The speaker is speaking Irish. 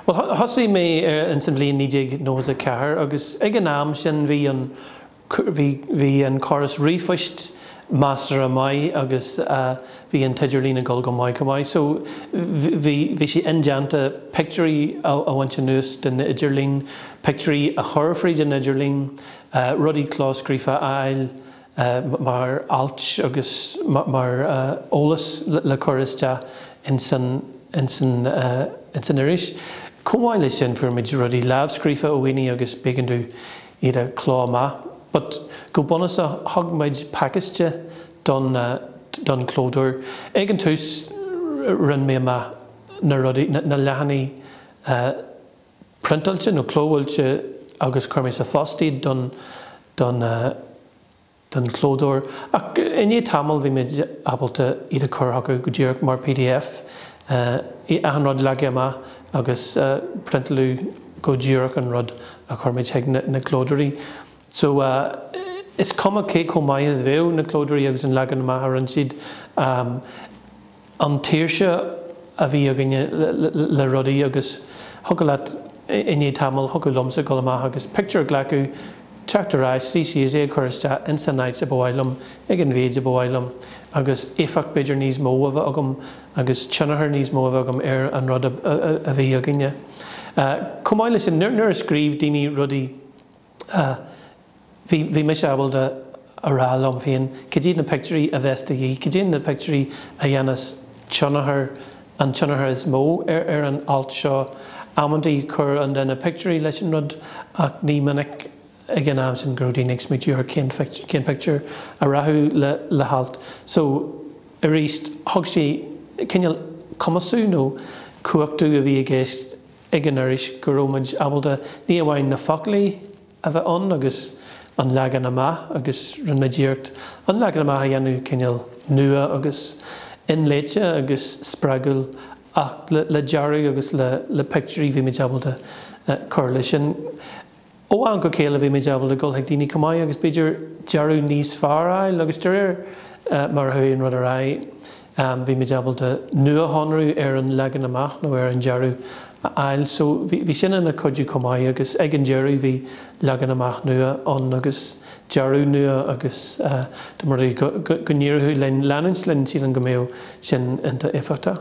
Bhuel, thosaigh mé ins an bhliain 1994 agus ag an am sin bhí an, bhí, bhí an córas ríomhphoist measartha maith agus bhí an t-idirlíon ag dul go maith maith. So, bhí, bhí sé indéanta pictiúirí a bhaint anuas den idirlíon, pictiúirí a chur fríd an idirlíon, rudaí clóscríofa a fháil, mar ailt agus mar eolas le cur isteach ins, ins an iris. Chomh maith le sin fuair muid rudaí lámhscríofa ó dhaoine agus b'éigean domh iad a chló amach. But go bunúsach thug muid pacáiste don, don chlódóir. Ag an tús rinn mé amach na rudaí, na leathanaigh, priontáilte nó clóbhuailte agus chuir muid sa phost iad don, don eh, don chlódóir ach i ndiaidh tamaill bhí muid ábalta iad a chur chucu go díreach mar pdf, eh, achan rud leagtha amach agus eh, priontáladh go díreach an rud a chuir muid chuig na, na clódóirí. So eh, is cuma cé chomh maith is a bheadh na clódóirí agus an leagan amach a rinne siad, eh, an tsaoirse a bhí againne le rudaí agus thiocfadh leat i ndiaidh tamaill, thiocfadh liomsa dul amach agus pictiúr a ghlacadh, teacht ar ais, suí síos, é a chur isteach ins an áit a ba mhaith liom, ag an mhéid a ba mhaith liom agus éifeacht b'fhéidir níos mó a bheith agam agus tionchar níos mó a bheith agam ar an rud a bhí againne. Chomh maith leis sin, nuair a scríobh daoine rudaí. a bhí, bhí mise ábalta a rá liom féin, caidé na pictiúirí a bheas de dhíth, caidé na pictiúirí a dhéanfas tionchar, an tionchar is mó ar, ar an alt seo. Amantaí chuir an duine pictiúirí leis an rud ach ní minic ag an am sin go raibh daoine ag smaointiú ar cén, cén pictiúr a rachadh le, le halt. So, aríst, thug sé cineál cumasú nó cumhachtú a bhí i gceist, ag an iris go raibh muid ábalta ní amháin na foclaí a bheith ann agus an leagan amach agus rinne muid iarracht an leagan amach a dhéanamh cineál nua agus inléite agus spreagúil ach le dearadh agus le pictiúirí bhí muid ábalta cur leis sin. Ó am go chéile bhí muid ábalta dul chuig daoine chomh maith agus b'fhéidir dearadh níos fearr a fháil agus de réir mar a chuaigh an rud ar aghaidh bhí muid ábalta nuashonrú ar an leagan amach nó ar an dearadh a fháil. So bhí sin ina chuidiú chomh maith agus ag an deireadh bhí leagan amach nua ann agus dearadh nua agus dá mba rud é go n-éireoidh linn leanúint linn sílim go mbeadh sin iontach éifeachtach.